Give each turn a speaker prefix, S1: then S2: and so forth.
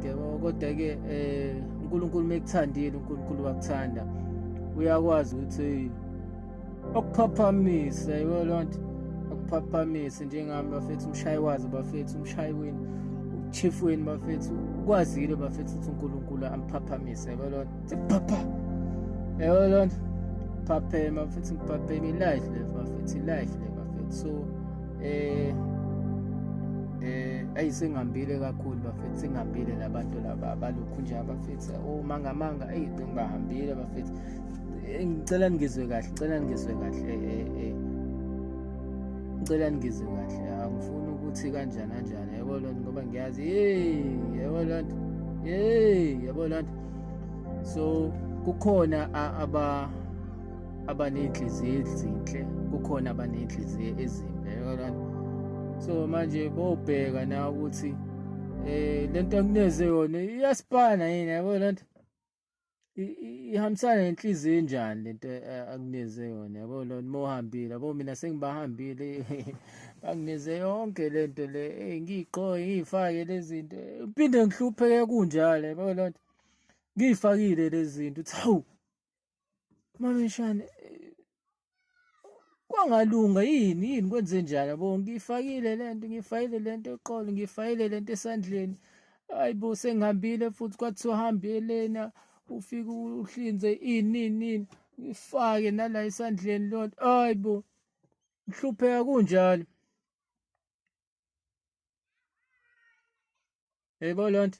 S1: Yebo kodwa-ke um uNkulunkulu uma ekuthandile uNkulunkulu wakuthanda uyakwazi ukuthi okuphaphamise yiwo loo nto okuphaphamise njengami bafethu umshayi wazi bafethu umshayi wini uchief wini bafethu ukwazile bafethu ukuthi uNkulunkulu amphaphamise yiwo loo nto phapha yiwo loo nto phaphema bafethu ngiphaphema ilife le bafethu ilife le bafethu so eh eh ayi singambile kakhulu bafethu singambile labantu laba balokhu nje abafethu uma oh, ngamanga ayi ngibahambile bafethu eh, ngicela ngizwe kahle ngicela ngizwe kahle eh, eh eh ngicela ngizwe kahle angifuni ukuthi kanjani kanjani yebo lonto ngoba ngiyazi hey yebo lonto hey yebo lonto so kukhona aba abaney'nhliziyo ezinhle kukhona abaney'nhliziyo ezimbi yakalani so manje bobheka na ukuthi eh lento akuneze yona iyasipana yini yabo lento ihambisana nenhliziyo enjani lento eh, akuneze yona yabo lona uma uhambile yabo mina sengibahambile bangineze yonke lento le eh, ngiyigqoke ngiyifake lezinto uphinde ngihlupheke kunjalo yabo lento ngiyifakile lezinto uthi hawu Mamishane eh, kwangalunga yini yini kwenze njani yabo ngifakile lento ngifayile lento eqolo ngifayile lento esandleni ayibo sengihambile futhi kwathiwa hambelena ufike uhlinze ini nini ngifake nala esandleni lonto ayibo ngihlupheka kunjalo yebo lonto